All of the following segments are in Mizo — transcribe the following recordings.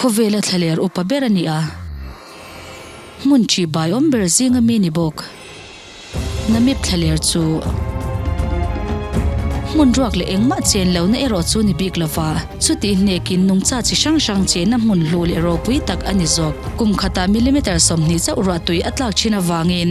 Khawvel a thla ler upa ber a ni a, hmun ṭih bai awm ber zing a mi ni bawk. Na mip thla ler chu hmun ruak leh engmah chen lo na erawh chu ni bik lova, chutih hnek in nungcha chi hrang hrang che na hmun hlu leh ropui tak a ni zawk. Kum khatah millimeter sawmhnih chauh ruahtui a tlak ṭhin avangin,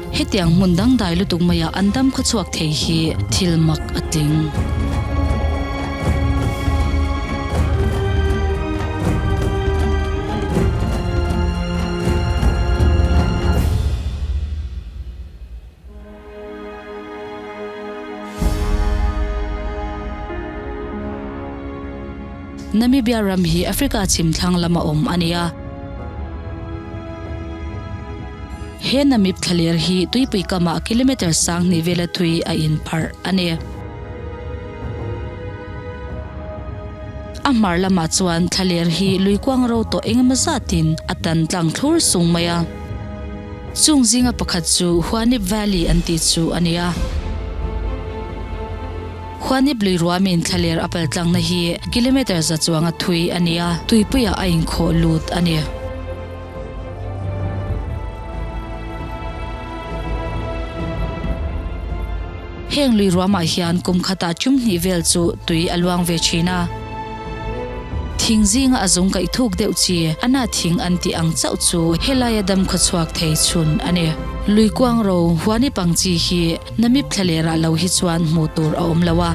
Hetiang hmun dangdai lutuk maiah an dam khawchhuak thei hi thil mak a tling. Namibia ram hi Africa chhim thlang lam a awm a ni a. He Namib thlaler hi tuipui kamah kilometre sang hnihvela thui a inpharh a ni. A hmar lamah chuan thlaler hi lui kuang ro tawh engemaw zatin a tan tlang thlur sung mai a. Chung zinga pakhat chu Huanib Valley an tih chu a ni a. Huanib lui ruamin thlaler a pal tlangna hi kilometre za chuanga thui a ni a, tuipuiah a inkhawh lut a ni. Heng lui ruahmah hian kum khatah ṭum hnih vel chu tui a luang ve ṭhin a. Thing zinga a zung kaih thuk deuh chi a na thing an tih ang chauh chu helai a dam khaw chhuak thei chhun a ni. Lui kuang ro huani pang chi hi Namib thla leh rah lo hi chuan hmuh tur a awm lo a.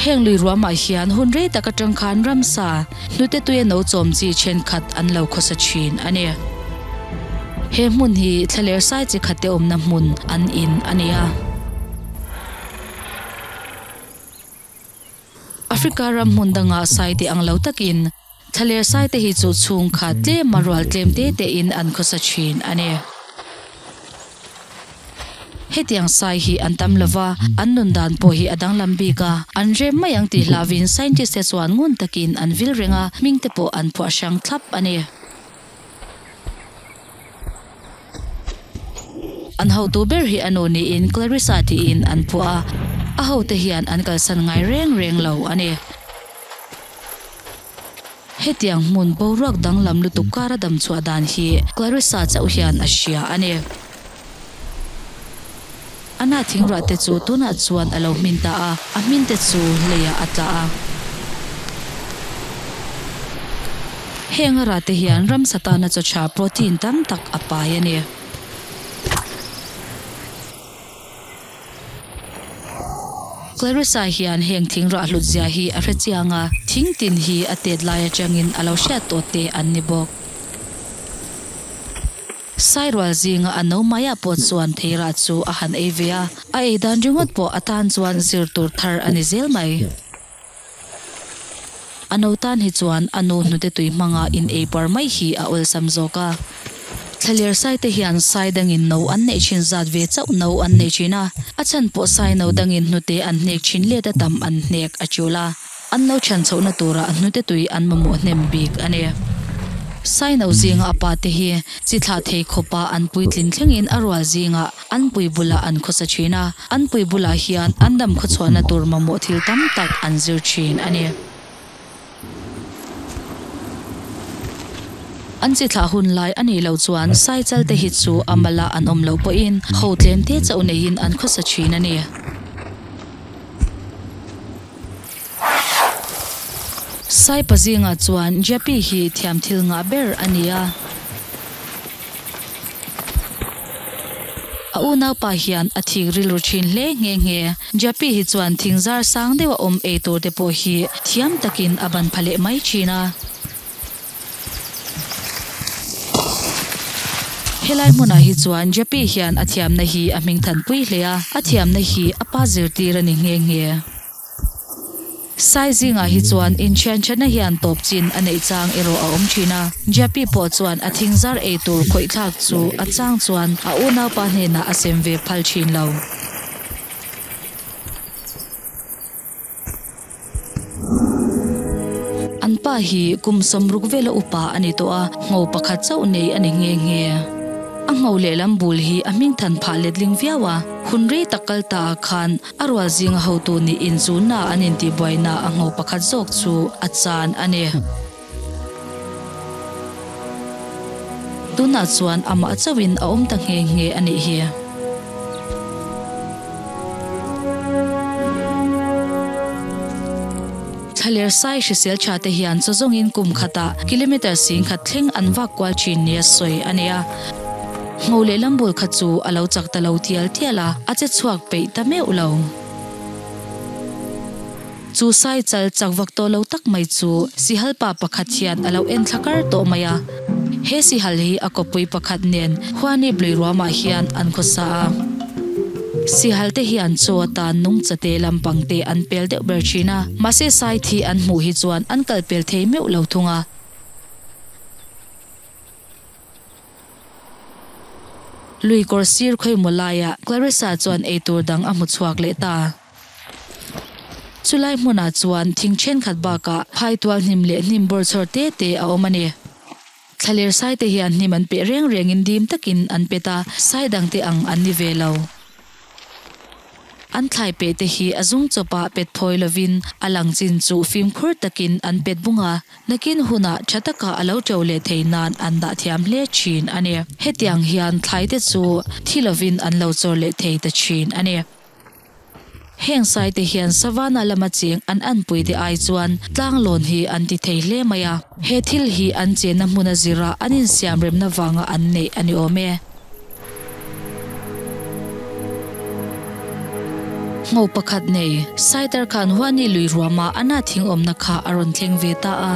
Heng lui ruahmah hian hun rei taka ṭangkhan ramsa, Hnute tuia no chawm chi thenkhat an lo khawsa thin a ni. He hmun hi thlaler sai chi khatte awmna hmun an in a ni a. Africa ram hmun dangah saite ang lo takin thlaler saite hi chu chhungkha tlema rual tlem te te in an khawsa thin a ni. Hetiang sai hi an tam lo va, an nun dan pawh hi a danglam bik a, an rem mai ang tih hlah viin scientist te chuan ngun takin an vil reng a, hming te pawh an phuah hrang thlap a ni. An hotu ber hi a nu niin Clarissa tiin an phuah a, a hote hian an kalsan ngai reng reng lo a ni. Hetiang hmun boruak danglam lutuk kara damchhuah dan hi Clarissa chauh hian a hria a ni. Ana thingrua te chu tunah chuan a lo hmin ta a, a hmin te chu leiah a tla a. Heng a ra te hian ram satana chawcha protein tam tak a pai a ni. Clarissa hian heng thing rah hlutzia hi a hre chiang a, thing tin hi a tet lai atangin a lo hriat tawh teh an ni bawk. Sai rual zinga a no maiah pawh chuan thei rah chu a han ei ve a, a ei dan ringawt pawh a tan chuan zir tur thar a ni zel mai. A no tan hi chuan a nu hnute tui hmanga in ei par mai hi a awlsam zawk a. Thlaliar saite hian sai dangin no an neih thin zat ve chauh no an neih thin a, a chhan pawh sai no dangin hnute an hnek thin let a tam an hnek a tial a. An lo chhan chhohna turah hnute tui an mamawh hnem bik a ni. Sai no zinga a pate hi chi thlah thei khawpa an puitlin thlengin a rual zingah an pui bulah an khawsa thin a, an pui bulah hian an dam khawchhuahna tur mamawh thil tam tak an zir thin a ni. An chi thlah hun lai a nih loh chuan sai chal te hi chu a mal a an awm loh pawhin ho tlem te chauh neiin an khawsa thin a ni. Saipa zingah chuan Jyapi hi thiamthil ngah ber a ni a. A unaupa hian a thik rilru thin hle nghe nghe. Jyapi hi chuan thing zar sang deuh a awm ei tur te pawh hi thiam takin a ban pha leh mai thin a. Helai hmunah hi chuan Jyapi hian a thiamna hi a hming than pui hle a. A thiamna hi a pa zirtir a ni nghe nghe. Sai zingah hi chuan inthianthiatna hian tawp chin a neih chang erawh a awm thin a. Jappy pawh chuan a thingzar ei tur khawithlak chu a chang chuan a unaupa hnenah a sem ve phal thin lo. An pa hi kum sawm ruk vela upa a ni tawh a, hngau pakhat chauh nei a ni nghe nghe. A hngau lehlam bul hi a hmingthan phah letling viau a, hun rei tak kal ta ah khan, A rual zinga hotu nih inchunna an intihbuaina a ngo pakhat zawk chu a chan a ni. Tunah chuan amah chauhin a awm ta nghe nghe a nih hi. Thahler sai hrisel tha te hian chaw zawngin kum khatah kilometre sing khat thleng an vak kual thin nia sawi a nia. Ngo leh lam bawl kha chu a lo chak ta lo tial tial a, a che chhuak peih ta meuh lo. Chu sai chal chak vak tawh lo tak mai chu sihal pa pakhat hian a lo en thlakar tawh mai a. He sihal hi a kawppui pakhat nen Huani Blui Ruamah hian an khawsa a. Sihal te hian chaw tan nung cha te lam pang te an pel deuh ber thin a, mahse sai thi an hmuh hi chuan an kal pel thei meuh lo thung a. Lui kawr sir khawi maw laiah Claressa chuan ei tur dang a hmu chhuak leh ta. Chulai hmunah chuan thing thenkhat bakah phai tual hnim leh hnim bawr chhawr te te a awm a ni. Thla ler saite hian hnim an peh reng rengin dim takin an pet a, sai dangte ang an ni ve lo. An thlai peh te hi a zung chawpa pet phawi lovin a lang chin chu fimkhur takin an pet bung a, nakin hunah tha taka a lo teo leh thei nan an dah thiam hle thin a ni. Hetiang hian thlai te chu thi lovin an lo chawr leh thei ta thin a ni. Heng sai te hian Savannah lama cheng an an pui te ai chuan tlang lawn hi an ti thei hle mai a. He thil hi an chenna hmuna zirah an insiam remna vanga an neih a ni awm e. Ngo pakhat nei, Saitar khan Huani lui ruama Anna thingawmna kha a rawn thleng ve ta a.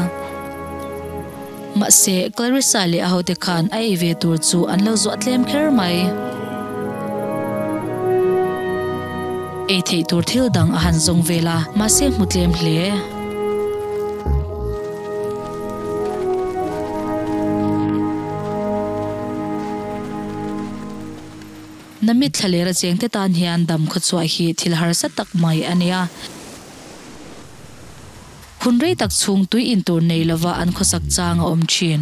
Mahse, Clarissa leh a hote khan a ei ve tur chu an lo zuah tlem kher mai. Ei theih tur thil dang a han zawng ve la, mahse hmu tlem hle. Na mit thla leh racheng te tan hian dam khawchhuah hi thil harsa tak mai a nia. Hun rei tak chhung tui in tur nei lova an khawsak chang a awm thin.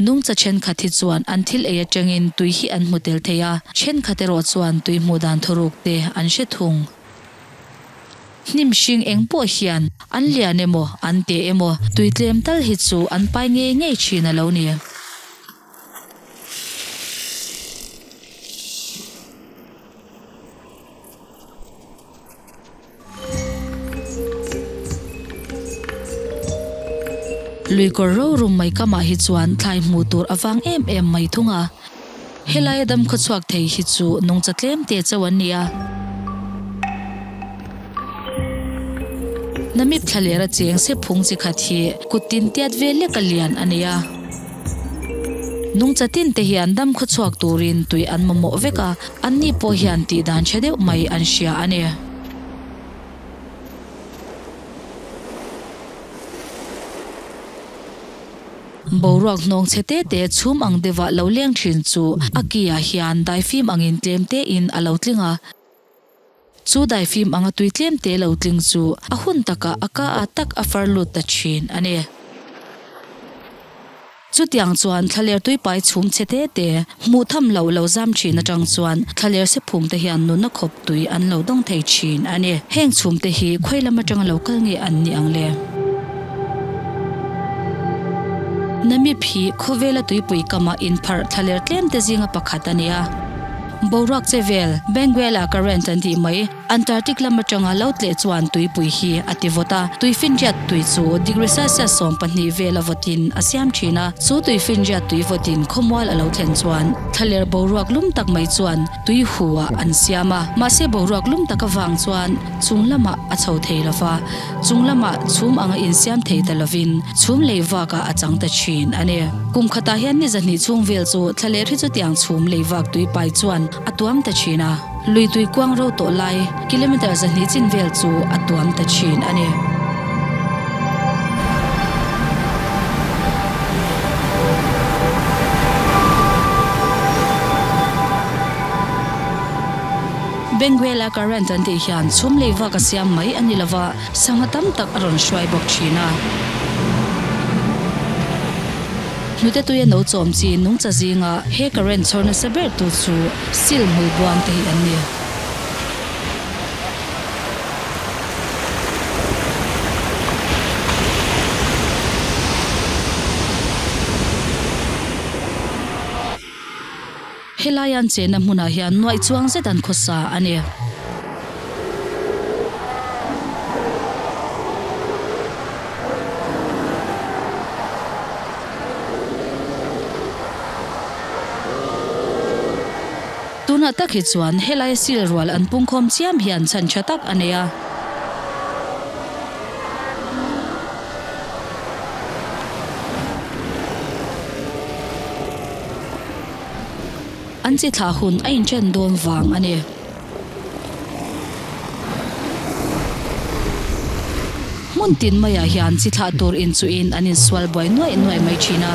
Nungcha thenkhat hi chuan an thil ei atangin tui hi an hmu tel thei a, thenkhat erawh chuan tui hmuh dan thuruk te an hre thung. Hnim hring eng pawh hian an lian emaw an teh emaw tui tlem tal hi chu an pai ngei ngei thin a lo ni. Lui kawr rorum mai kamah hi chuan thlai hmuh tur a vang em em mai thung a. Helai a dam khawchhuak thei hi chu nungcha tlem te chauh an ni a. Na mip thla leh ra cheng se phung chi khat hi kut tin tiat ve lek a lian a ni a. Nungcha tin te hian dam khawchhuak turin tui an mamawh vek a, anni pawh hian tih dan ṭha deuh mai an hria a ni. Boruak hnawng chhe te te chhum ang deuhva lo leng thin chu a kiah hian daifim angin tlem tein a lo tling a. Chu daifim anga tui tlem te lo tling chu a hun takah a ka a tak a far lut ta thin a ni. Chutiang chuan thlaler tuipai chhum chhe te te Hmuh tham loh lo zam thin atang chuan thlaler se phung te hian nunna khawp tui an lo dawng thei thin a ni. Heng chhum te hi khawi lam atanga lo kal nge an ni ang le? Namip hi khawvela tuipui kamah inpharh thlaler tlem te zinga pakhat a ni a. Boruak che vel, Benguela ka rent an tih mai. Antarctic lam atanga lo tleh chuan tuipui hi a ti vawt a. Tui finriat tui chu degree Celsius sawm pahnih vel a vawt in a siam thin a. Chu tui finriat tui vawt in khawmual a lo thlen chuan thlaler boruak lum tak mai chuan tui hu ah an siam a. Mahse boruak lum taka vang chuan chung lamah a chho thei lo va, chung lamah chhum anga in siam thei ta lovin chhum lei vak ah a chang ta thin a ni. Kum khatah hian ni zahnih chhung vel chu thlaler hi chutiang chhum lei vak tuipai chuan a tuam ta thin a. Lui tui kuang ro tawh lai kilometer zahnih chin vel chu a tuam ta thin a ni. Benguela current an tih hian chhum lei vak a siam mai a ni lova sangha tam tak a rawn hruai bawk thin a. Hnute tuia no chawm chi nungcha zingah he current chhawr nasa ber tu chu. Sil hmui buang te hi an ni a. Helai an chenna hmunah hian nuaih chuang zet an khawsa a ni. Tunah tak hi chuan helai sil rual an pungkhawm chiam hi an chhan tha tak a nei a. An chi thlah hun a inṭen dawn vang a ni. Hmun tin maiah hian chi thlah tur in chu in an in sual buai nuai nuai mai thin a.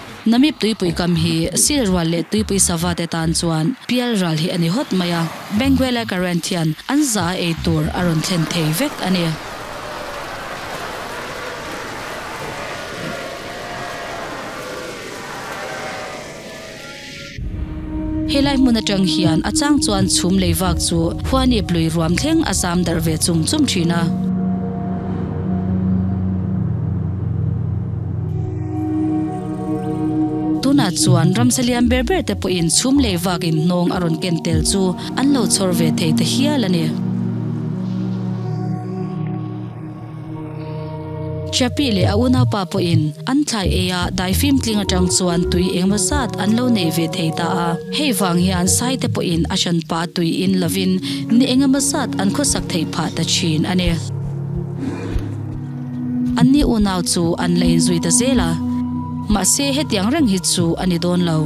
Namip tuipui kam hi Sil rual leh tuipui sava te tan chuan pial ral hi a ni hawt mai a, Benguela current hian an za a ei tur a rawn thlen thei vek a ni. Helai hmun atang hian a chang chuan chhum lei vak chu huanip lui ruam thleng a zam darh ve chum chum thin a. Tunah chuan ramsa lian ber ber te pawhin chhum lei vak in hnawng a rawn ken tel chu an lo chhawr ve thei ta hial a ni. Chapi leh a unaupa pawhin an thlai eia daifim tling atang chuan tui engmaw zat an lo nei ve thei ta a. Hei vang hian Saite pawhin a hranpa tui in lovin ni eng emaw zat an khawsak thei phah ta thin a ni. An ni unau chu an la inzui ta zel a, mahse hetiang reng hi chu a ni dawn lo.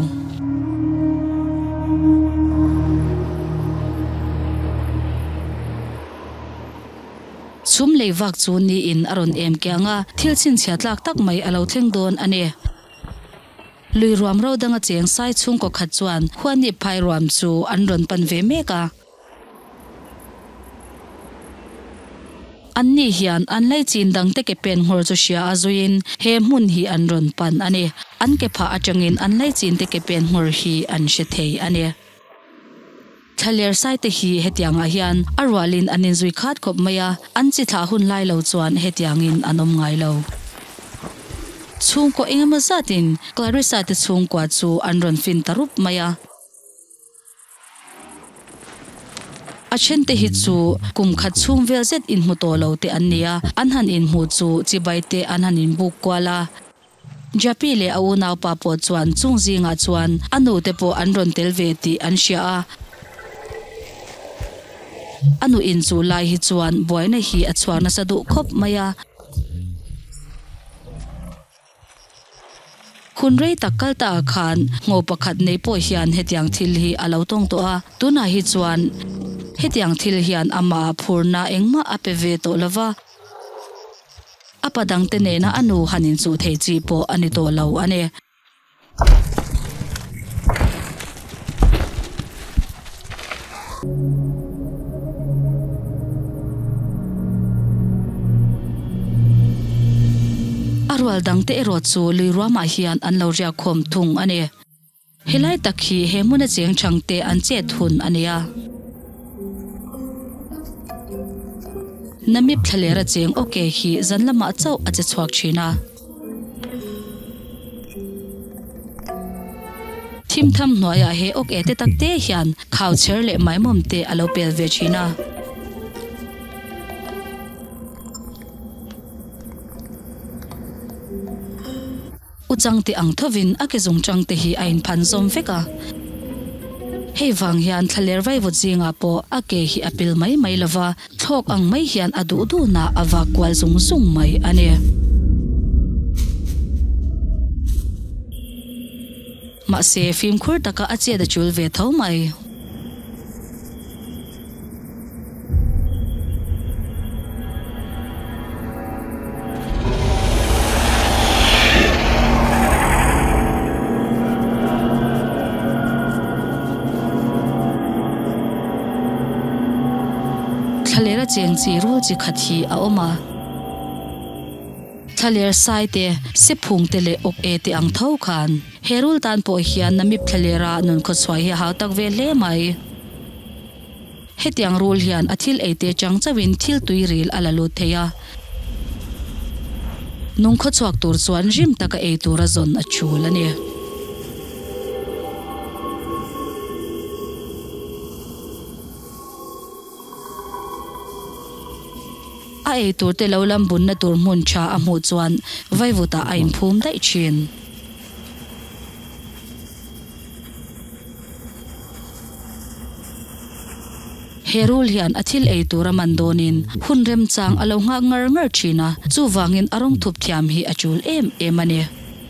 Sum lei vak chu ni in a rawn em kiang a, thil chhinchhiat lak tak mai a lo thleng dawn a ni. Lui ruam ro dang a cheng sai chhungkaw khat chuan Huanip phai ruam chu an rawn pan ve mek a. Anni hian an lei chin dang te ke pen nghawr chu hria a zui in he hmun hi an rawn pan a ni. An ke phah atangin an lei chin te ke pen nghawr hi an hre thei a ni. Thla ler saite hi hetiangah hian a rualin an inzui khat khawp mai a, an chi thlah hun lai lo chuan hetiangin an awm ngai lo. Chhungkaw engemaw zatin Clarissa te chhungkua chu an rawn fin ta rup mai a. A then te hi chu kum khat chhung vel zet inhmu tawh lo te an ni a, an han inhmu chu chibai te an han inbuk kual a. Jappy leh a unaupa pawh chuan chung zingah chuan a nu te pawh an rawn tel ve tih an hria a. A nu in chu lai hi chuan buaina hi a chhuak nasa duh khawp mai a. Hun rei tak kal ta ah khan ngo pakhat nei pawh hian hetiang thil hi a lo tawng tawh a. Tunah hi chuan hetiang thil hian amah ah phurna engmah a pe ve tawh lo va. A pa dangte nena a nu han inchuh theih chi pawh a ni tawh lo a ni. A rual dangte erawh chu lui ruamah hian an lo riak khawm thung a ni. Helai tak hi he hmuna cheng chang te an chet hun a nei a. Namip thlalera cheng ok hi zan lamah chauh a che chhuak thin a. Thim tham hnuaiah he ok e te tak te hian khau chher leh maimawm te a lo pel ve thin a. U chang tih ang thovin a kezung chang te hi a inphan zawm vek a. Hei vang hian thlaler vaivut zingah pawh a ke hi a pil mai mai lo va, thlawk ang mai hian a duh duhna a vak kual zung zung mai a ni. Mahse, fimkhur taka a chiat a chul ve tho mai. Thlalera cheng chi rul chi khat hi a awm a. Thlaler sai te, se phung te leh uk e te ang tho khan. He rule tan pawh hian Namib thlaler a nun khaw chhuah hi a hau tak ve hle mai. Hetiang rule hian a thil ei te chang chauhin thil tui ril a la lut thei a. Nung khaw chhuak tur chuan hrim taka ei tur a zawn a chul a ni. A ei tur te lo lam bunna tur hmun tha a hmuh chuan vaivutah a inphum daih thin. He rul hian a thil ei tura man dawnin hun remchang a lo nghak ngar ngar thin a, chuvangin a rawng thup thiam hi a chul em em a ni.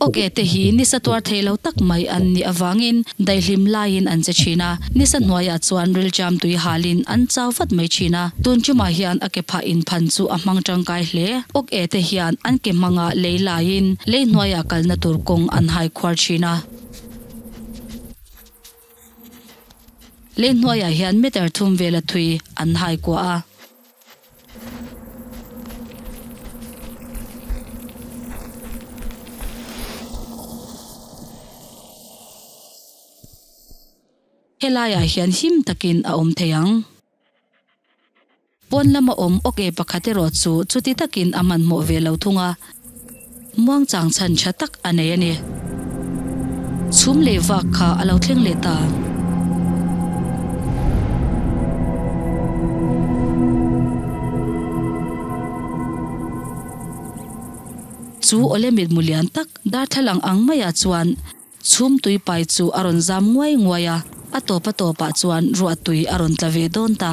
Oke te hi nisa tuar theih lo tak mai an nih avangin daihlim laiin an che thin a, nisa hnuaiah chuan rilṭiam tui halin an chau vat mai thin a, tun ṭumah hian a ke phah in phan chu a hmang ṭangkai hle. Oke te hian an ke hmangah lei laiin lei hnuaiah kalna tur kawng an hai khuar thin a, lei hnuaiah hian meter thum vela thui an hai kuah a. Helaiah hian him takin a awm thei ang. Puan lama awm awk e pakhat erawh chu chuti takin a hmanhmawh ve lo thung a. Muangchang chhan tha tak a nei a ni. Chhum leh vak kha a lo thleng leh ta. Chu awle mit mu lian tak darthlalang ang maiah chuan. Chhum tuipai chu a rawn zam nguai nguai a, a tawpa tawpah chuan ruah tui a rawn tla ve dawn ta.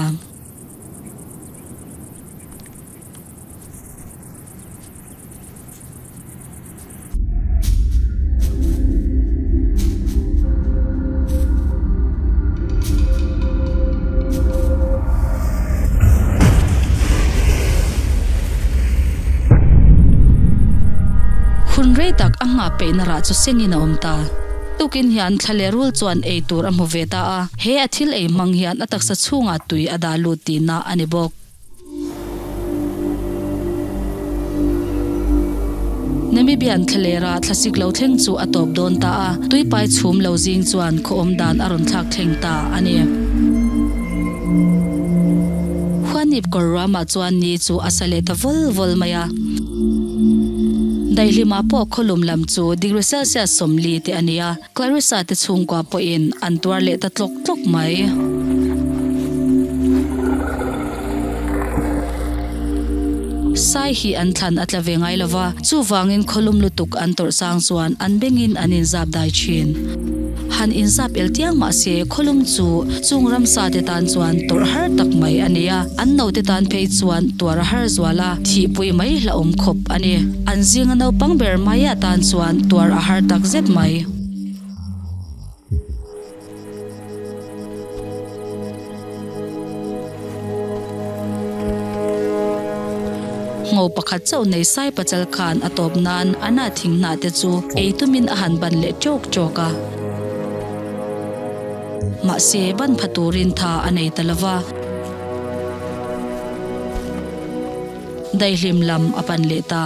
Hun rei tak a nghah peihna rah chu sengin a awm ta. Tukin hian thla leh rul chuan ei tur a hmu ve ta a, he a thil ei hmang hian a taksa chhungah tui a dah lut tihna a ni bawk. Namibian thlalera thlasik lo thleng chu a tawp dawn ta a, tuipai chhum lo zing chuan khawawm dan a rawn thlak thleng ta a ni. Huanip kawr ruamah chuan ni chu a sa leh ta vawl vawl mai a. Daihlimah pawh khawlum lam chu degree celsius sawmli teh a ni a. Clarissa te chhungkua pawhin an tuar leh ta tlawk tlawk mai-sai hi an thlan a tla ve ngai lo va, chuvangin khawlum lutuk an tawrh chang chuan an bengin an inzap dai thin. Han inzap el tiang mahse khawlum chu chung ramsa te tan chuan tawrh har tak mai a ni a. An note tan phei chuan tuar a har zual a, thihpui mai hlauhawm khawp a ni. An zinga naupang ber hmaiah tan chuan tuar a har tak zet mai. Ngo pakhat chauh nei sai pachal khan a tawp nan Anna thing hnah te chu ei tumin a han ban leh trawk trawk a. Mahse, ban pha turin tha a nei ta lo va. Daihlim lam a pan leh ta.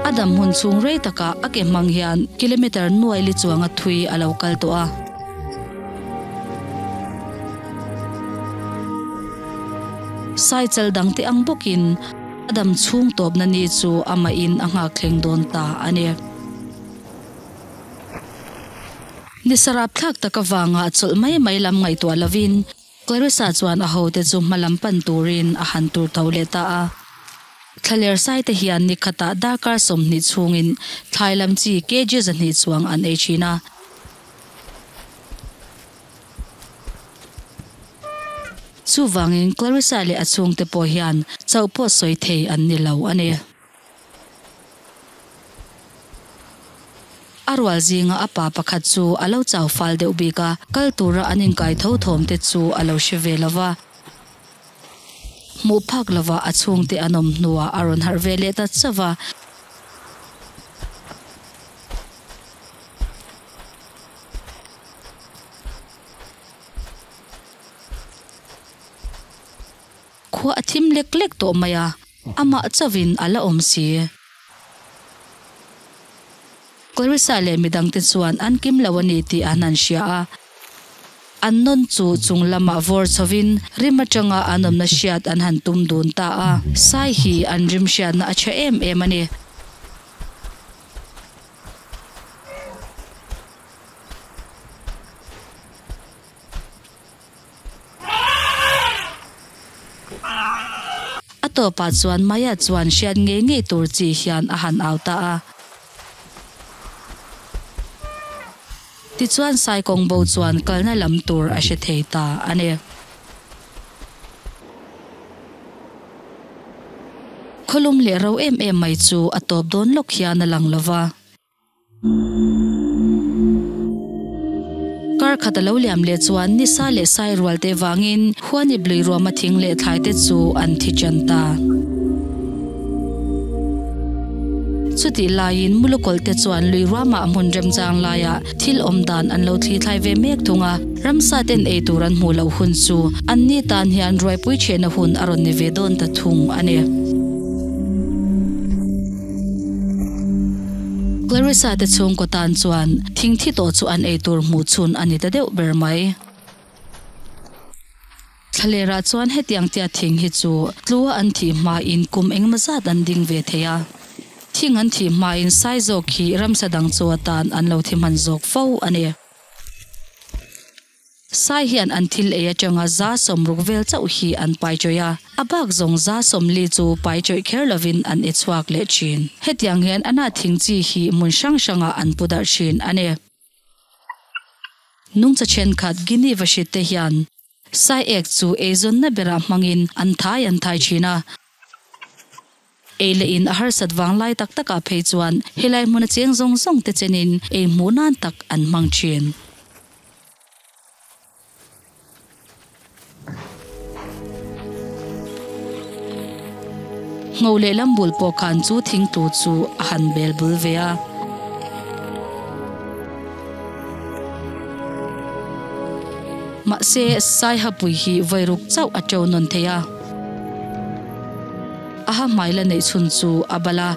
A dam hmun chhung rei takah a ke hmang hian kilometer nuai li chuanga thui a lo kal tawh a. Cycle dang te ang bawkin a dam chhung tawpna ni chu amahin a nghak thleng dawn ta a ni. Ni sarap thlak tak avanga a chawlh mai mai lam ngaihtuah lovin Clarissa chuan a hote chu hma lam pan turin a han tur tho leh ta a. Thlaler saite hian ni khatah darkar sawmhnih chhungin thlai lam chi kg zahnih chuang an ei thin a. Chuvangin Clarissa leh a chhungte pawh hian chauh pawh sawi thei an ni lo a ni. A rual zinga a pa pakhat chu a lo chau fal deuh bik a, kal tura an inkai tho thawm te chu a lo hre ve lova, hmuh phak lova a chhungte an awm hnua a rawn harh ve leh ta chauh a. Khua a thim lek lek tawh mai a, amah chovin a la awm si e. Clarissa leh mi dangte chuan an kim lo a ni tih an han hria a, an nawn chu chung lamah vawr chhovin rim atanga an awmna hriat an han tum dun ta a. Sai hi an rim hriatna a tha em em a ni. A tawpah chuan Maya chuan hriat ngei ngei tur chi hian a han au ta a. Tichuan Sai Kawng Bo chuan kalna lam tur a hre thei ta a ni. Khawlum leh ro em em mai chu a tawp dawn lawk hian a lang lo va. Kar khat a lo liam leh chuan ni sa leh sai rual te vangin khuani blui ruama thing leh thlai te chu an thi ṭan ta. Chutih laiin mulukawlh te chuan lui ruama a hmun remchang laiah thil awm dan an lo thli thlai ve mek thung a. Ramsa ten ei tur an hmuh loh hun chu an ni tan hian ruaipui ṭhiahna hun a rawn ni ve dawn ta thung a ni. Clarissa te chhung kaw tan chuan thing thi tawh chu an ei tur hmuh chhun a ni ta deuh ber mai. Thlalêrah chuan hetiang tia thing hi chu tlua an thih hmain kum engemaw zat an ding ve thei a. Thing an thih hmain sai zawk hi ramsa dang chu atan an lo thi hman zawk fo a ni. Sai hian an thil ei atanga za sawm ruk vel chauh hi an pai chawih a, a bak zawng za sawm li chu pai chawih kher lovin an ei chhuak leh thin. Hetiang hian ana thing chi hi hmun hrang hrangah an pu darh thin a ni. Nungcha thenkhat Guinea va hrit te hian Sai ek chu eizawnna berah hmangin an thai an thai thin a. Ei leh in a harsat vang lai tak tak ah phei chuan helai hmun a cheng zawng zawng te chen in ei hmuh nan tak an hmang thin. Ngo leh lam bul pawh khan chu thing tu chu a han bel bul ve a. Mahse, Saiha Pui hi vawi ruk chauh a teu nawn thei a. A ha hmai la neih chhun chu a bal a,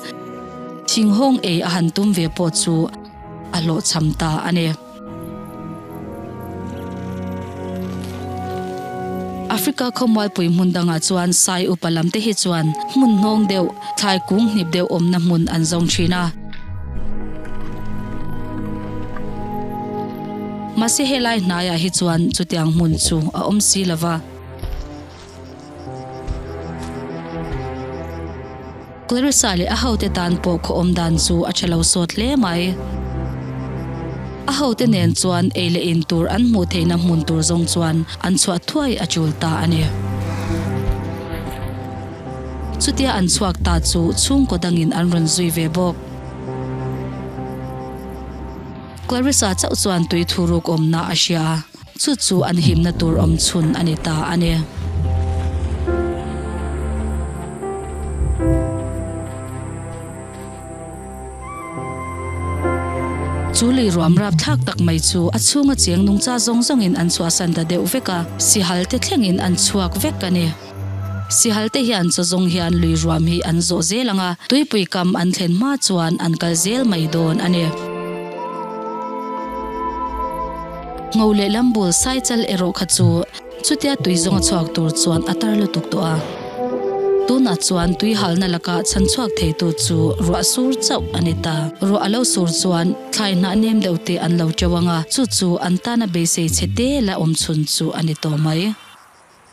thinghawng ei a han tum ve pawh chu a hlawh chham ta a ni. Africa khawmual pui hmun dangah chuan Sai upa lam te hi chuan hmun hnawng deuh, thlai kung hnip deuh awmna hmun an zawng thin a. Mahse helai hnaiah hi chuan chutiang hmun chu a awm si lo va. Clarissa leh a hote tan pawh khawawm dan chu a tha lo sawt hle mai. A hote nen chuan ei leh in tur an hmuh theihna hmun tur zawng chuan an chhuah thuai a tul ta a ni. Chutia an chhuak ta chu chhungkaw dangin an rawn zui ve bawk. Clarissa chauh chuan tui thu ruk awmna a hria a. Chu chu an himna tur awm chhun a ni ta a ni. Chu lui ruam rap thlak tak mai chu a chhunga chiang nungcha zawng zawngin an chhuahsan ta deuh vek a, sihal te thlengin an chhuak vek a ni. Sihalte hian chu zawng hian lui ruam hi an zawh zel ang a, tuipui kam an thlen hma chuan an kal zel mai dawn a ni. Ngo leh lam bul sai chal erawh kha chu chutia tui zawnga chhuak tur chuan a tar lutuk tawh a. Tunah chuan tui halna laka chhan chhuak theitu chu ruah sur chauh a ni ta. Ruah a lo sur chuan thlai hnah nem deuh te an lo teuang a, chu chu an tana beisei chhe te la awm chhun chu a ni tawh mai.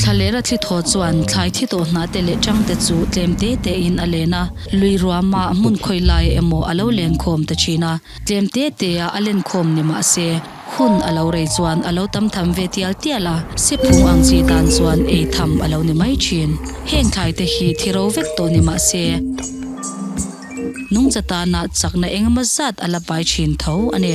Thla leh ra thlithaw chuan thlai thi tawh hnah te leh chang te chu tlem te te in a len a, lui ruama hmun khawi lai emaw a lo len khawm ta thin a, tlem te te a a len khawm ni mah se, hun a lo rei chuan a lo tam tham ve tial tial a, se phung ang chi dan chuan ei tham a lo ni mai thin. Heng thlai te hi thi ro vek tawh ni mah se, nungcha tana chakna eng emaw zat a la pai thin tho a ni.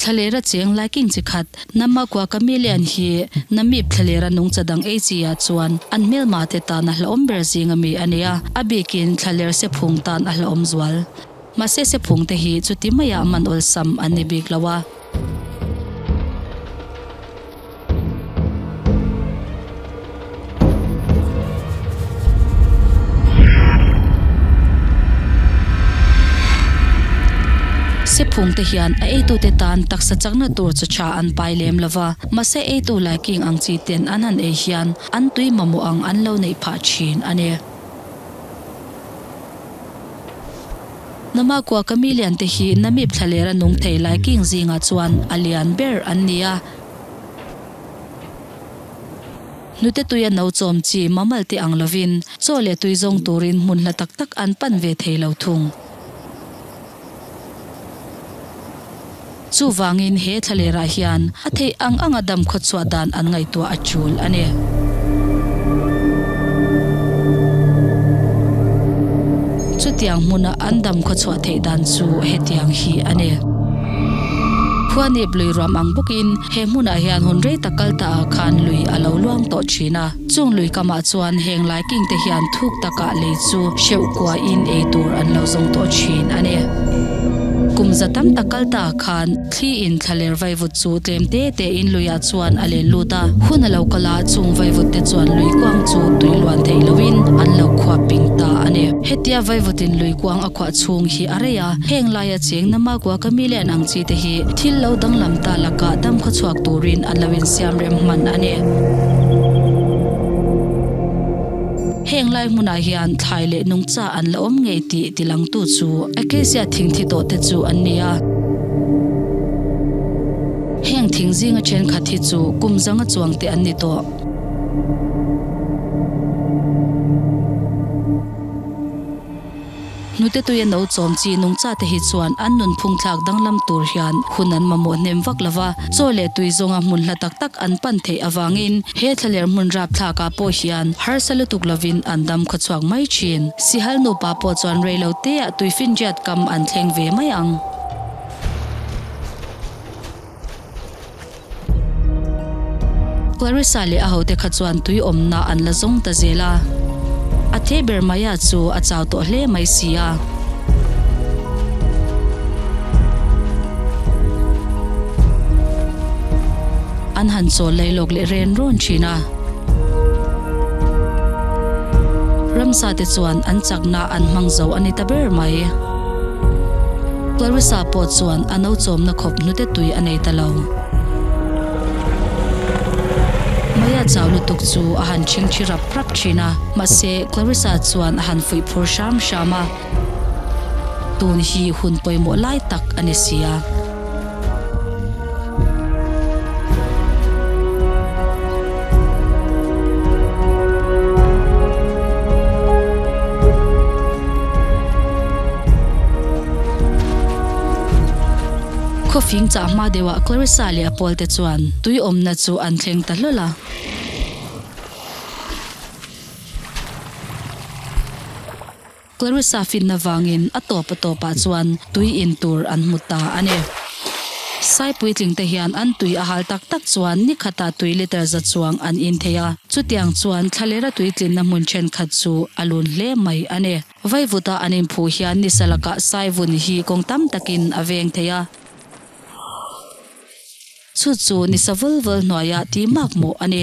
Thla leh ra cheng lai king chi khat. Nama kua ka mi lian hi Namib thla leh ra nung cha dang ei chi ah chuan an hmel mah te tan a hlawm ber zing a mi a nia. A bik in thla ler se phung tan a hlawm zual. Mahse se phung te hi chuti mai ah man awlsam an ni bik lo a. Sephumte hian a eitute tan taksa chakna tur chu tha an pai lem lo va, mahse eitu Laiking ang chi ten an han ei hian an tui mamawh ang an lo neih phah thin a ni. Nama kua ka milian te hi na mip thla ler a nung thei lai king zingah chuan a lian ber an ni a. Hnute tuia no chawm chi mamal te ang lovin chaw leh tui zawng turin hmun hla tak tak an pan ve thei lo thung. Chuvangin he thla lerah hian a theih ang anga damkhaw chhuah dan an ngaihtuah a tul a ni. Chutiang hmuna an damkhaw chhuah theih dan chu hetiang hi a ni. Khuanip lui ruam ang bawkin he hmunah hian hun rei tak kal ta ah khan lui a lo luang tawh thin a. Chung lui kamah chuan heng lai king te hian thuk takah lei chu hreuh kuah in ei tur an lo zawng tawh thin a ni. Kum za tam tak kal ta khan thli in thla ler vaivut chu tlem te te in lui ah chuan a len lut a, hun a lo kal a, chung vaivut te chuan lui kuang chu tui luan theih lo in an lo khuap ping ta a ni. Hetia vaivut in lui kuang a khuah chhung hi a rei a, heng lai a. A cheng na makua ka mi len ang chi te hi thil lo danglam ta lakah dam kha chhuak turin a lo insiam rem hman a ni. Heng lai hmunah hian thlai leh nungcha an la awm ngei tih ti lang tu chu Acacia thing thi tawh te chu an ni a. Heng thing zinga thenkhat hi chu kum zanga chuang te an ni tawh. Hnute tui an o chawm chi, nungchate hi chuan an nunphung thlak danglam tur hian hun an mamawh hnem vak lo va, chaw leh tui zawnga hmun hla tak tak an pan theih avangin he thlaler hmun rap thlakah pawh hian harsa lutuk lovin an dam khaw chhuak mai thin. Sihal nupa pawh chuan rei lo teah tui finriat kam an thleng ve mai ang. Clarissa leh a hote kha chuan tui awmna an la zawng ta zel a, a the ber maia chu a chau tawh hle mai si a. An han chawl lei lawk leh ren rawn thin a. Ramsa te chuan an chakna an hmang zo a ni ta ber mai. Clarissa pawh chuan a no chawmna khawp hnute tui a nei ta lo. Maya chau lutuk chu a han chhingthi rap rap thin a, mahse Clarissa chuan a han fuih phur hram hram a. Tun hi hun pawimawh lai tak a ni sia. Khawfing chah hma deuhah Clarissa leh a pawlte chuan tui awmna chu an thleng ta hlawl a. Clarissa fitna vangin a tawp a tawpah chuan tui in tur an hmu ta a ni. Sai puitling te hian an tui a hal tak tak chuan ni khatah tui liter za chuang an in thei a, chutiang chuan thlalera tui tlinna hmun thenkhat chu a lun hle mai a ni. Vaivuta an in phu hian ni sa lakah sai vun hi kawng tam takin a veng thei a, chu chu ni sa vul vul hnuaia ti makmawh a ni.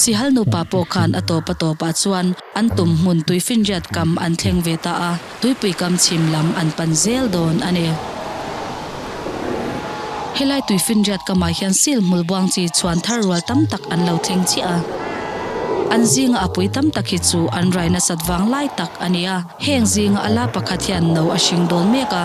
Sihal nupa pawh khan a tawp a tawp ah chuan an tum hmun tui finriat kam an thleng ve ta a, tuipui kam chhim lam an pan zel dawn a ni. Helai tui finriat kam ah hian sil hmul buang chi chuan thar rual tam tak an lo thleng chiah a. An zinga a pui tam tak hi chu an rai nasat vang lai tak a ni a, heng zinga a la pakhat hian no a hring dawn mek a.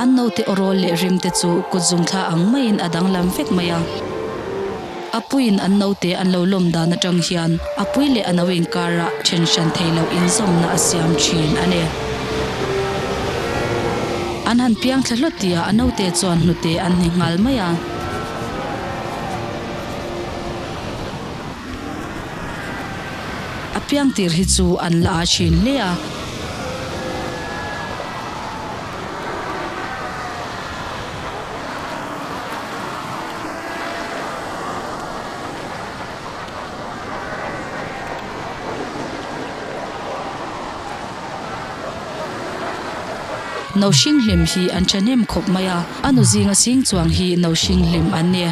An naute Orawl leh Rim te chu kut zung thla ang maiin a danglam vek mai a. A puiin an naute an lo lawm dan atang hian a pui leh a no inkara then hran thei loh inzawmna a siam thin a ni. An han piang thla hlawt tia a naute chuan hnute an hni nghal mai a. A piang tir hi chu an la a thin hle a. No hring hlim hi an thahnem khawp mai a. A nu zinga sing chuang hi no hring hlim an ni.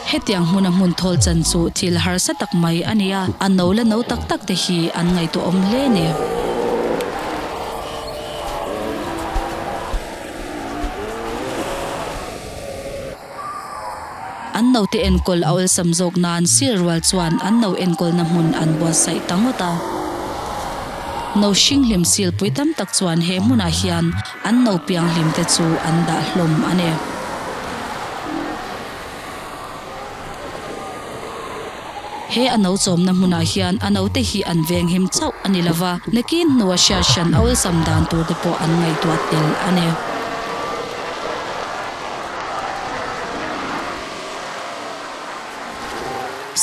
Hetiang hmuna hmun thawl chan chu thil harsa tak mai a ni a, a no la no tak tak te hi an ngaihtuahawm hle ni. An note enkawl a awlsam zawk nan sir rual chuan an no enkawlna hmun an buatsaih ta ngawt a. No hring hlim silpui tam tak chuan he hmunah hian an no piang hlim te chu an dah hlawm a ni. He a no chawmna hmunah hian a note hi an venghim chauh a ni lo va, nakin hnu a hriat hran awlsam dan tur te pawh an ngaihtuah tel a ni.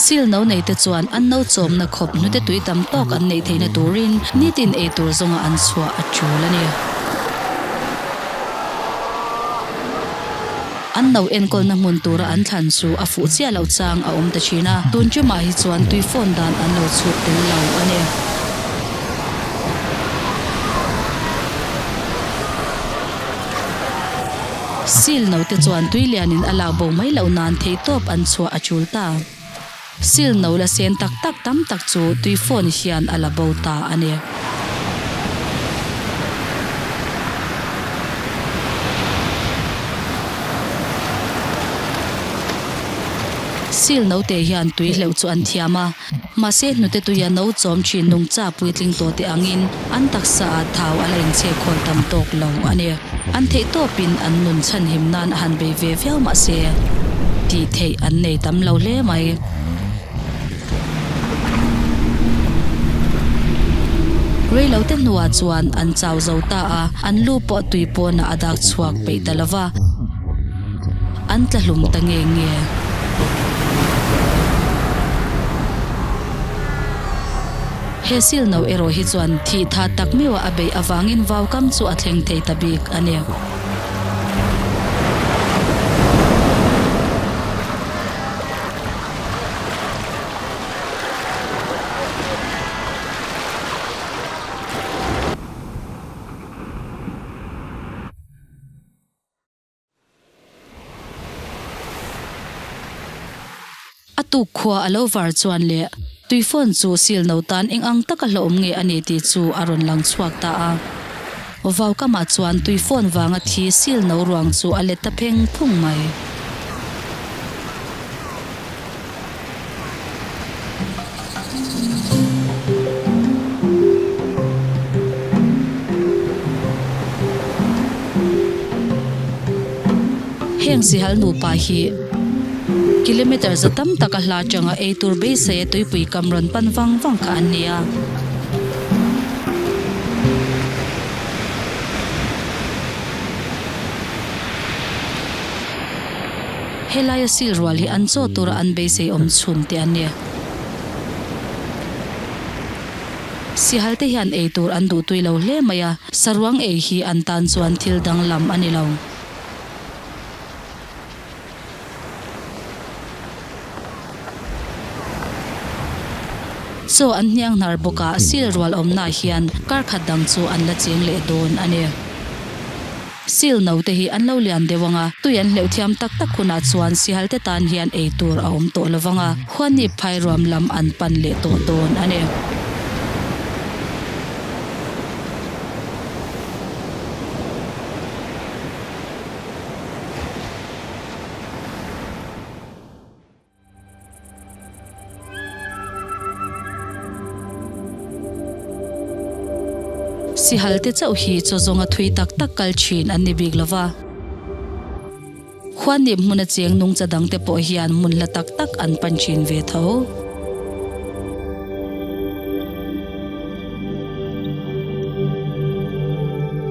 Sil no neite chuan an no chawmna khawp hnute tui tam tawk an neih theihna turin nitin ei tur zawnga an chhuah a tul a ni. An no enkawlna hmun tura an thlan chu a fuh chiah loh chang a awm ta thin a, tun chu mah hi chuan tui fawn dan an lo chhuk tel lo a ni. Silno te chuan tui lianin a lak bo mai loh nan theihtawp an chhuah a tul ta. Sil no la sen tak tak tam tak chu tui phone hian a la bo ta a ni. Sil no te hian tui hleuh chu an thiam a, mahse hnute tuia no chawm thin nungcha puitling tawh te angin, an taksa ah thau a la inchhe khawl tam tawk lo a ni. An theihtawp in an nun chhanhim nan a han bei ve viau mah se, tih theih an nei tam lo hle mai. Rei lo te hnu ah chuan an chau zo ta a, an lu pawh tui pawn ah a dak chhuak peih ta lova, an tla hlum ta nge nge. He silno erawh hi chuan thih tha tak meuh a a beih avangin vaukam chu a thleng thei ta bik a ni. A tuk khua a lo var chuan le, Tuifawn chu silno tan eng ang taka hlawhawm nge a ni tih chu a rawn lang chhuak ta a. Vau kamah chuan Tuifawn vanga thi silno ruang chu a let ta pheng phung mai. Heng sihal nupa hi kilometer za tam taka hla tanga ei tur beisei a tuipui kam rawn pan vang vang kha an ni a. Helaia sil rual hi an chaw tura an beisei awm chhum te an ni. Sihalte hian ei tur an duh tui lo hle mai a, saruang ei hi an tan chuan thil danglam a ni lo. Chaw an hniang hnar bawk a, sil rual awmnaah hian kar khat dang chu an la cheng leh dawn a ni. Seal no te hi an lo lian deuh ang a, tui an hleuh thiam tak tak hunah chuan Seal te tan hian ei tur a awm tawh lo vang a, Huanip phairuam lam an pan leh tawh dawn a ni. Sihalte chauh hi chaw zawnga thui tak tak kal thin an ni bik lo va. Khuan nih hmun a chiang nung cha dang te pawh hian hmun hla tak tak an pan thin ve tho.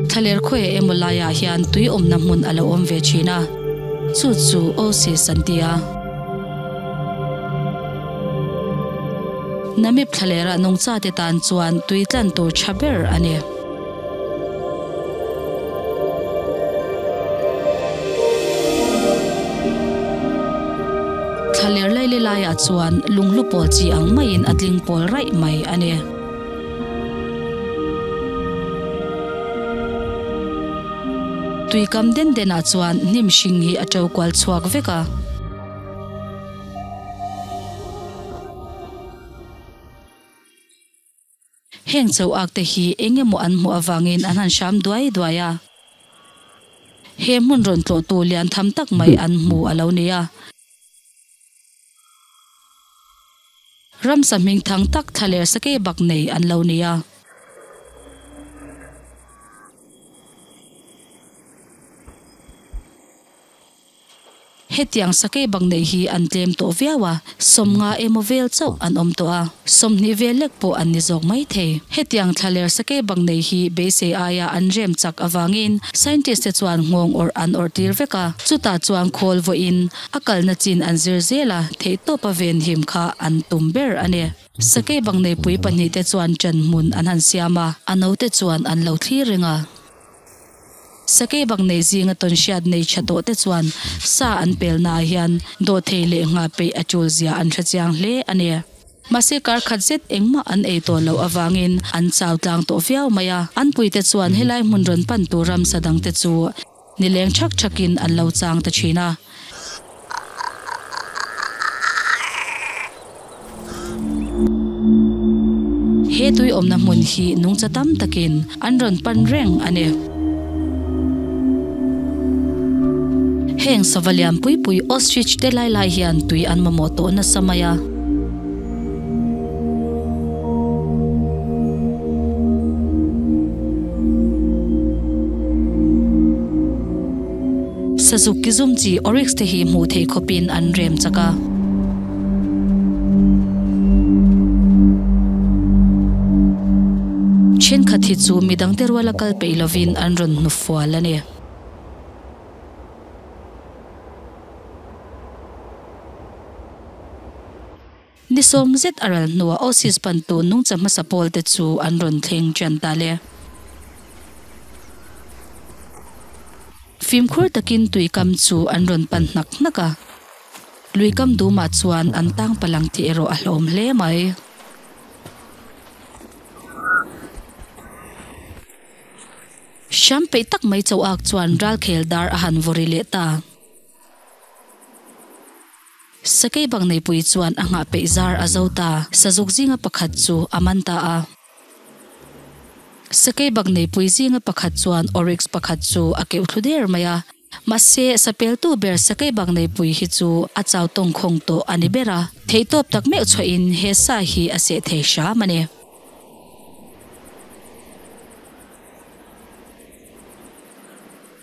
Thlaler khawiah emaw laiah hian tui awmna hmun a lo awm ve thin a, chu chu Oasis an ti a. Namib thlalerah nungchate tan chuan tui tlan tur tha ber a ni. Thla ler lai le lai ah chuan lung hlu pawl chi ang mai in a tling pawl raih mai a ni. Tui kam den den ah chuan hnim hring hi a to kual chhuak vek a. Heng cho ak te hi eng emaw an hmuh avangin an han hram duai duai a. He hmun rawn tlawh tu lian tham tak mai an hmu a lo ni a. Ramsa hming thang tak thla ler sakei bak nei an lo ni a. Hetiang sakei bang neih hi an tlem tawh viau a, sawmnga emaw vel chauh an awm tawh a, sawmhnih vel lek pawh an ni zawk mai thei. Hetiang thla ler sakei bang neih hi beisei aia an rem chak avangin scientist te chuan nghawng awrh an awrh tir vek a, chutah chuan khawl vawiin a kalna chin an zir zel a, theihtawpa venhim kha an tum ber a ni. Sakei bang nei pui pahnih te chuan ṭan hmun an han siam a, a no te chuan an lo thlir reng a. Sakei bak neih zinga tawn hriat neih tha tawhte chuan sa an pel naah hian dawhthei leh nghah peih a tul zia an hre chiang hle a ni. Mahse kar khat zet engmah an ei tawh loh avangin an chau tlang tawh viau mai a. An puite chuan helai hmun rawn pan tur ramsa dangte chu nileng ṭhak ṭhakin an lo chang ta ṭhin a. He tui awmna hmun hi nungcha tam takin an rawn pan reng a ni. Heng sava lian pui pui ostrich te lai lai hian tui an mamawh tawh nasa mai a. Sazuk ki zum chi oryx te hi hmuh theih khawp in an rem chak a. Thenkhat hi chu midang te rual a kal peih lo in an rawn hnu fual a ni. Ni sawm zet a ral hnuah Aussies bantu nungcha hmasa pawl te chu an rawn thleng tian ta le. Fimkhur takin tui kam chu an rawn pan hnak hnak a. Lui kam dumah chuan an tang palang tih erawh a hlawm hle mai. Hram peih tak mai Chauak chuan ral khel dar a han vawri leh ta. Sakei bang nei pui chuan a nghah peih zar a zo ta. Sazuk zinga pakhat chu a man ta a. Sakei bak nei pui zinga pakhat chuan oryx pakhat chu a keuh thlu der mai a. Mahse, sapeltu ber sakei bak nei pui hi chu a chau tawng khawng tawh a ni ber a. Theihtawp tak meuh chhuahin he sa hi a seh thei hram a ni.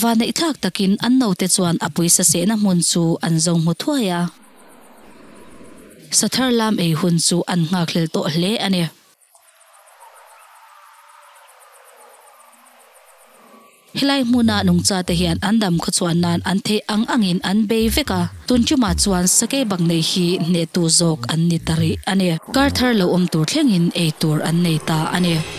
Vaneihthlak takin an note chuan a pawisa sehna hmun chu an zawng hmu thuai a. Sathar lam ei hun chu an nghakhlel tawh hle a ni. Helai hmuna nungchate hian an dam khawchhuah nan an theih ang angin an bei vek a. Tun ṭumah chuan sakei bak neih hi hnetu zawk an ni ta rih a ni. Kar thar lo awm tur thlengin ei tur an nei ta a ni.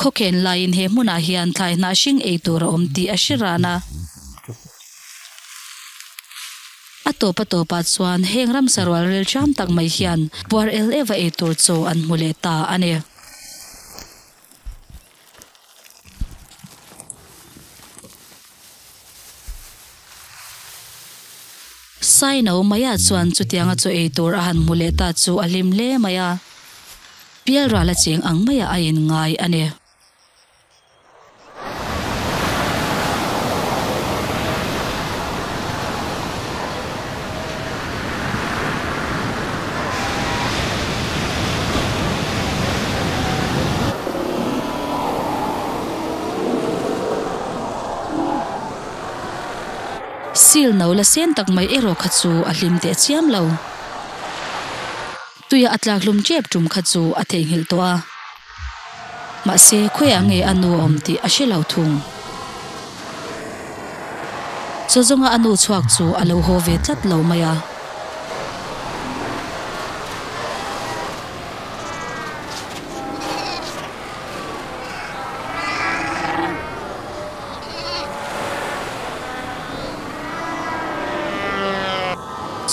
Khawkhen laiin he hmunah hian thlai hnah hring ei tur a awm tih a hre ran a. A tawpa tawpah chuan heng ramsa rualrel ṭiam tak mai hian puar el ev a ei tur chaw an hmu leh ta a ni. Saino Maya chuan chutianga chaw ei tur a han hmu leh ta chu a hlim hle mai a, Pialral a cheng ang maiah a in ngai a ni. Sil no la sen tak mai erawh kha chu a hlim teh chiam lo. Tuia a tlak hlum ṭep ṭum kha chu a theihnghilh tawh a. Mahse, khawiah nge a nu a awm tih a hre lo thung. Chaw zawnga a nu chhuak chu a lo haw ve tlat lo mai a.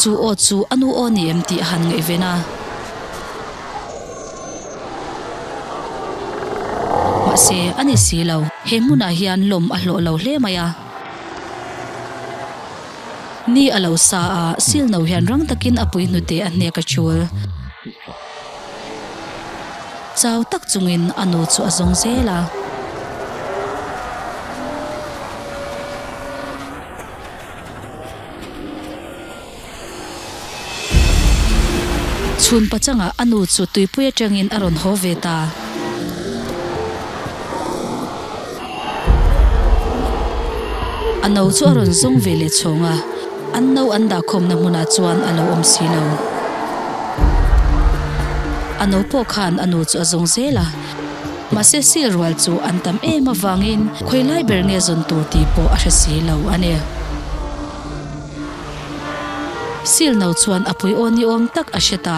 Chu aw chu a nu aw ni em tih a han ngaih ve na. Mahse, a ni si lo. He hmunah hian lawm a hlawh lo hle mai a. Ni a lo sa a, silno hian rang takin a puihnu te a hnek a chul. Chau tak chungin a nu chu a zawng zel a. Chhunpa changah a nu chu tuipui atangin a rawn haw ve ta. A no chu a rawn zawng ve leh chhawng a, an no an dah khawmna hmunah chuan a lo awm si lo. A no pawh khan a nu chu a zawng zel a, mahse sîl rual chu an tam êm avângin khawi lai ber nge zawn tûr tih pawh a hre si lo a ni. Sîl no chuan a pui âwni âwm tak a hre ta.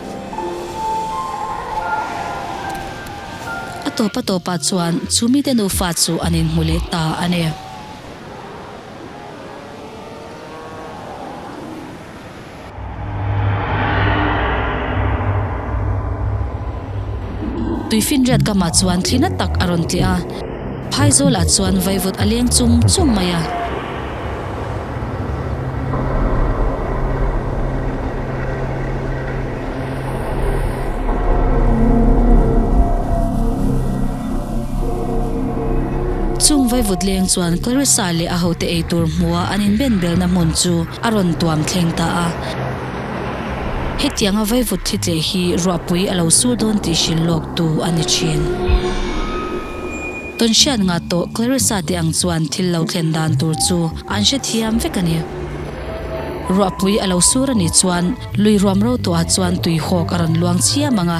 A tawpa tawpah chuan chu mite nufa chu an inhmu leh ta a ni. Tui finriat kamah chuan thlina tak a rawn tliah a. Phaizawlah chuan vaivut a leng chum chum mai a. Chung vaivut leng chuan Clarissa leh a hote ei tur hmua an inbenbelna hmun chu a rawn tuam thleng ta a. Hetianga vaivut thlitleh hi ruahpui a lo su dawn tih hrilh lawktu a ni thin. Tawn hriat ngah tawh Clarissa teh ang chuan thil lo thlen dan tur chu an hrethiam vek a ni. Ruahpui a lo sur a nih chuan lui ruam ro tawhah chuan tui hawk a rawn luang chiam ang a,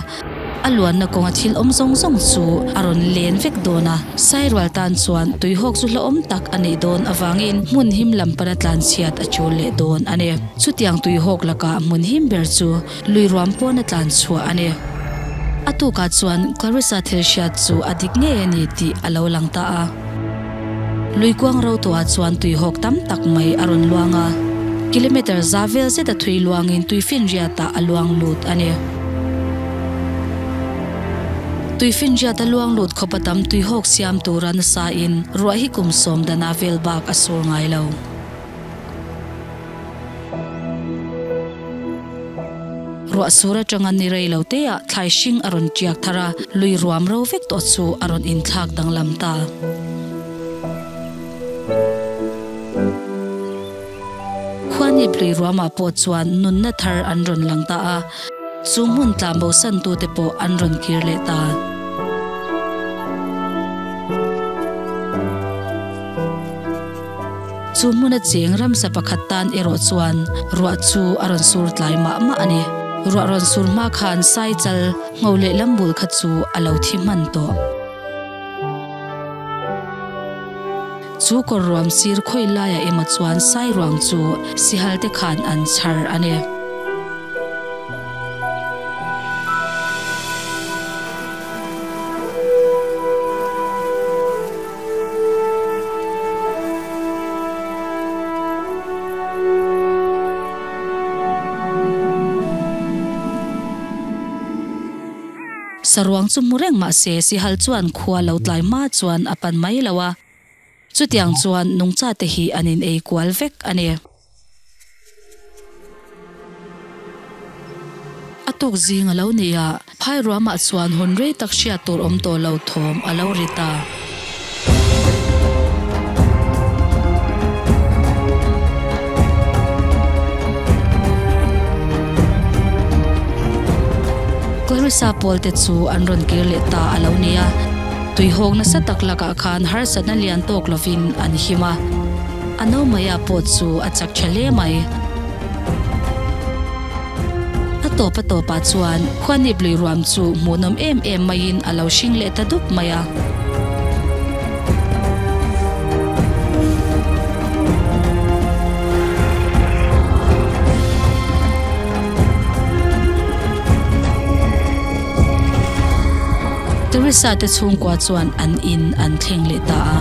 a luanna kawnga thil awm zawng zawng chu a rawn len vek dawn a. Sairual tan chuan tui hawk chu hlauhawm tak a neih dawn avangin hmun him lam pana tlanchhiat a chul leh dawn a ni. Chutiang tui hawk lakah hmun him ber chu. lui ruam pawn a tlan chhuah a ni. A tukah chuan Clarissa thil hriat chu a dik ngei a ni tih a lo lang ta a. Lui kuang rotuah chuan tui hawk tam tak mai a rawn luang a, kilometre za vel zet a thui luangin tui finriatah a luang lut a ni. Tui finriat a luang lut khawpa tam tui hawk siam tura nasa in ruah hi kum sawm dana vel bak a sur ngai lo. Ruah sur atanga ni rei lo teah thlai hring a rawn tiak thar a, lui ruam ro vek tawh chu a rawn inthlak danglam ta. Khuanip lui ruamah pawh chuan nunna thar an rawn lang ta a, chu hmun tlan bo san tu te pawh an rawn kir leh ta. Chu hmuna cheng ramsa pakhat tan erawh chuan ruah chu a rawn sur tlai mah mah a ni. Ruah rawn sur hma khan sai chal ngho leh lam bul kha chu a lo thi hman tawh. Chu kawr ruam sir khawi laia emaw chuan sai ruang chu sihal te khan an chhar a ni. Saruang chu hmu reng mah se, Sihal chuan khua lo tlai hma chuan a pan mai lo a. Chutiang chuan Nungchate hi an inei kual vek a ni. A tawk zing a lo nih a, phairuamah chuan hun rei tak hriat tur awm tawh lo thawm a lo rit a. Klarissa pawl te chu an rawn kir leh ta a lo nih a, tuihawk nasa tak lakah khan harsatna lian tawk lovin an him a. A no mai ah pawh chu a chak tha hle mai. A tawp a tawp ah chuan khuanip lui ruam chu hmuhnawm em em mai in a lo hring leh ta dup mai a. Teresa te chhungkua chuan an in an thleng leh ta a.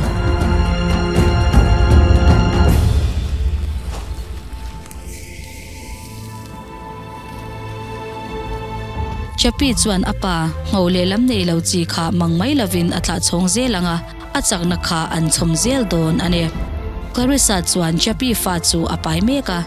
Chappie chuan a pa hngau lehlam nei lo chi kha mang mai lovin a tlah chhawng zel ang a, a chakna kha an chhawm zel dawn a ni. Clarissa chuan Chappie fa chu a pai mek a,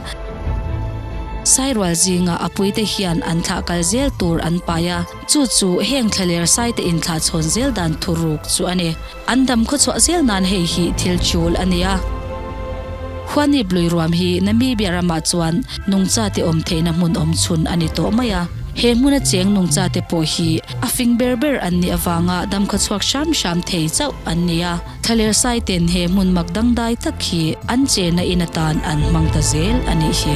sai rual zingah a puite hian an thlah kal zel tur an pai a. Chu chu heng thlaler saite inthlahchhawn zel dan thu ruk chu a ni. An dam khaw chhuah zel nan hei hi thil chul a nia. Huanip lui ruam hi Namibia ramah chuan nungchate awm theihna hmun awm chhun a ni tawh mai a. He hmuna cheng nungchate pawh hi a fing ber ber an nih avanga dam khaw chhuak hram hram thei chauh an ni a. Thaler saite'n he hmun mak dangdai tak khi an chena in atan an hmang ta zel a nih hi.